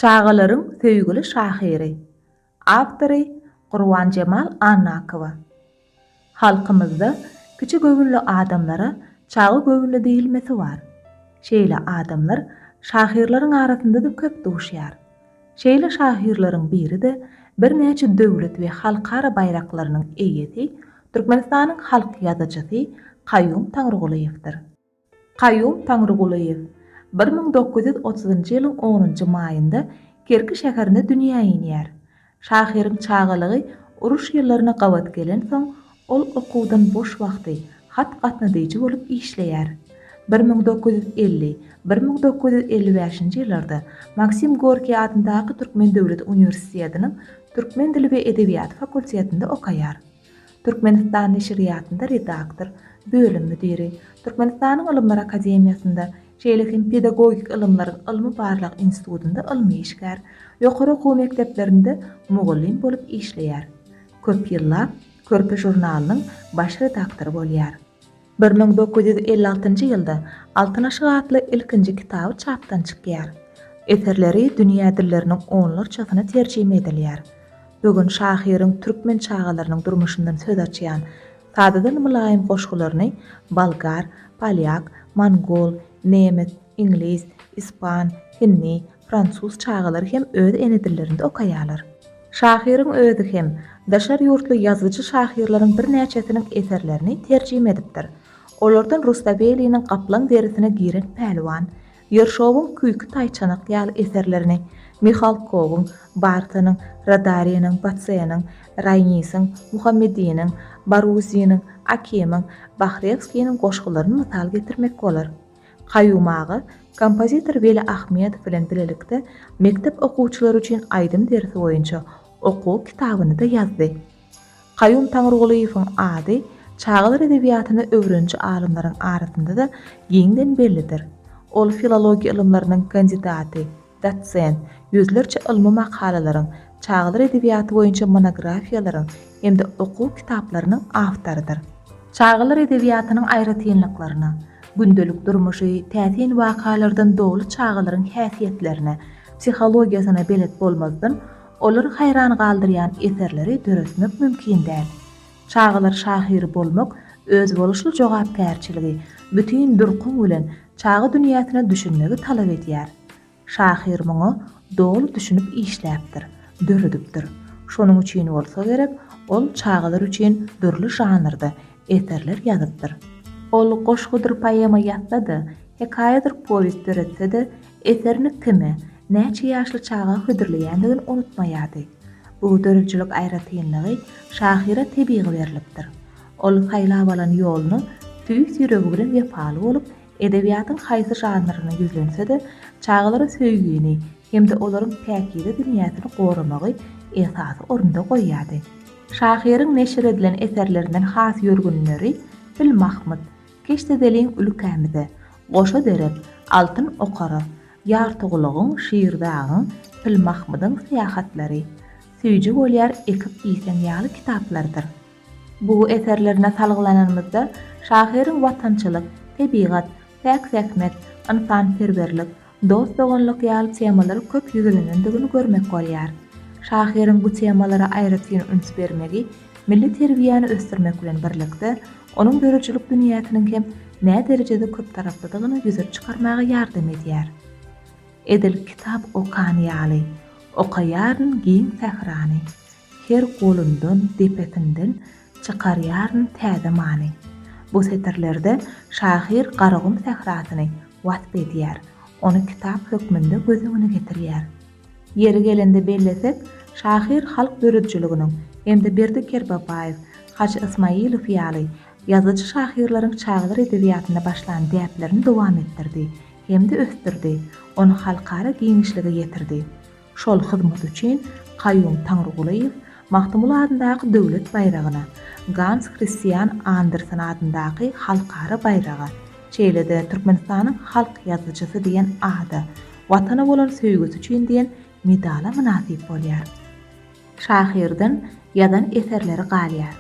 Çagalaryň söýgüli şahyry, awtory Gurbanjemal Annakowa. Halkymyzda kiçi göwünli adamlara çaga göwünli diýilmesi bar. Şeýle adamlar şahyrlaryň arasynda-da köp duşýar. Şeýle şahyrlaryň biri-de birnäçe döwlet we halkara baýraklarynyň eýesi, Türkmenistanyň halk ýazyjysy Kaýum Taňrygulyýewdir. Kaýum Taňrygulyýew bir müň dokuz ýüz otuzynjy ýylyň onunjy maýynda Kerki şäherinde dünýä inýär. Şahyryň çagalygy uruş ýyllaryna gabat gelensoň, ol okuwdan boş wagty hat gatnadyjy bolup işleýär. Bir müň dokuz ýüz elli, bir müň dokuz ýüz elli bäşinji ýyllarda Maksim Gorkiý adyndaky Türkmen döwlet uniwersitediniň türkmen dili we edebiýaty fakultetinde okaýar. Türkmenistan neşirýatynda redaktor, bölüm müdiri, Türkmenistanyň Ylymlar akademiýasynda, şeýle hem Pedagogik ylymlaryň ylmy-barlag institutynda ylmy işgär, ýokary okuw mekdeplerinde mugallym bolup işleýär. Köp ýyllap Körpe žurnalynyň baş redaktory bolýar. Bir müň dokuz ýüz elli altynjy ýylda Altyn aşyk atly ilkinji kitaby çapdan çykýar. Eserleri dünýä dilleriniň onlarçasyna terjime edilýär. Bu gün şahyryň türkmen çagalarynyň durmuşyndan söz açýan, sadadan mylaýym goşgularyny bolgar, polýak, mongol, nemes, iňlis, ispan, hindi, fransuz çagalary hem öz ene dillerinde okaýarlar. Şahyryň özi hem daşary ýurtly ýazyjy-şahyrlaryň birnäçesiniň eserlerini terjime edipdir. Olardan Rustaveliniň Gaplaň derisine giren pälwan, Ýerşowyň Küýki taýçanak ýaly eserlerini, Mihalkowyň, Bartanyň, Radariniň, Batseniň, Raýnisiň, Muhammediniň, Baruziniň, Akimiň, Bahrewskiniň goşgularyny mysal getirmek bolar. Kaýum aga kompozitor Weli Ahmedow bilen bilelikde mekdep okuwçylary üçin aýdym dersi boýunça okuw kitabyny-da ýazdy. Kaýum Taňrygulyýewiň ady çagalar edebiýatyny öwreniji alymlaryň arasynda-da giňden bellidir. Ol filologiýa ylymlarynyň kandidaty. dosent, ýüzlerçe ylmy makalalaryň, çagalar edebiýaty boýunça monografiýalaryň hem-de okuw kitaplarynyň awtorydyr. Çagalar edebiýatynyň aýratynlyklaryna, gündelik durmuşy täsin wakalardan doly çagalaryň häsiýetlerine, psihologiýasyna belet bolmazdan, olary haýran galdyrýan eserleri döretmek mümkin däl. Çagalar şahyry bolmak özboluşly jogapkärçiligi, bütin durkuň bilen çaga dünýäsine düşünmegi talap edýär. Şahyr muňa doly düşünip işläpdir, döredipdir. Şonuň üçin bolsa gerek, ol çagalar üçin dürli žanrda eserler ýazypdyr. Ol goşgudyr poema ýazsa-da, hekaýadyr powest döretse-de, eserini kime, näçe ýaşly çaga hödürleýändigini unutmaýardy. Bu döredijilik aýratynlygy şahyra tebigy berlipdir. Ol saýlap alan ýoluna tüýs ýüregi bilen wepaly bolup, edebiýatyň haýsy žanryna ýüzlense-de, çagalara söýgini hem-de olaryň päkize dünýäsini goramagy esasy orunda goýýardy. Şahyryň neşir edilen eserlerinden has ýörgünleri Pil Mahmyt, Keşdedeliň ülkämize, Goşa derek, Altyn okara, Ýartygulagyň, Şirdagyň, Pil Mahmydyň syýahatlary, Süýji bolýar ekip iýseň ýaly kitaplardyr. Bu eserlerine salgylananymyzda, şahyryň watançylyk, tebigat, päk zähmet, ynsanperwerlik, dost-doganlyk ýaly temalary köp ýüzlenendigini görmek bolýar. Şahyryň bu temalara aýratyn üns bermegi milli terbiýäni ösdürmek bilen birlikde, onuň döredijilik dünýäsiniň hem näderejede köptaraplydygyny ýüze çykarmaga ýardam edýär. Edil kitap okan ýaly, okaýaryn giň sährany. Her golundan, depesinden çykarýaryn täze many. Bu setirlerde şahyr Garagum sährasyny wasp edýär, ony kitap hökmünde göz öňüne getirýär. Ýeri gelende bellesek, şahyr halk döredijiliginiň hem-de Berdi Kerbabaýew, Hajy Ysmaýylow ýaly ýazyjy-şahyrlaryň çagalar edebiýatynda başlan däplerini dowam etdirdi hem-de ösdürdi, ony halkara giňişlige ýetirdi. Şol hyzmaty üçin Kaýum Taňrygulyýew Magtymguly adyndaky Döwlet baýragyna, Gans Kristian Andersen adyndaky Halkara baýraga, şeýle-de Türkmenistanyň halk ýazyjysy diýen ada, Watana bolan söýgüsi üçin diýen medala mynasyp bolýar. Şahyrdan ýazan eserleri galýar.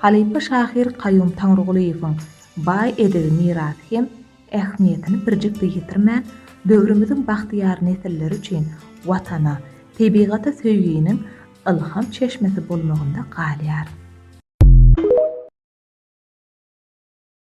Halypa şahyr Kaýum Taňrygulyýewiň baý edebi mirasy hem ähmiýetini birjik-de ýitirmän, döwrümiziň bagtyýar nesilleri üçin Watana, tebigata söýginiň ylham çeşmesi bolmagynda galýar.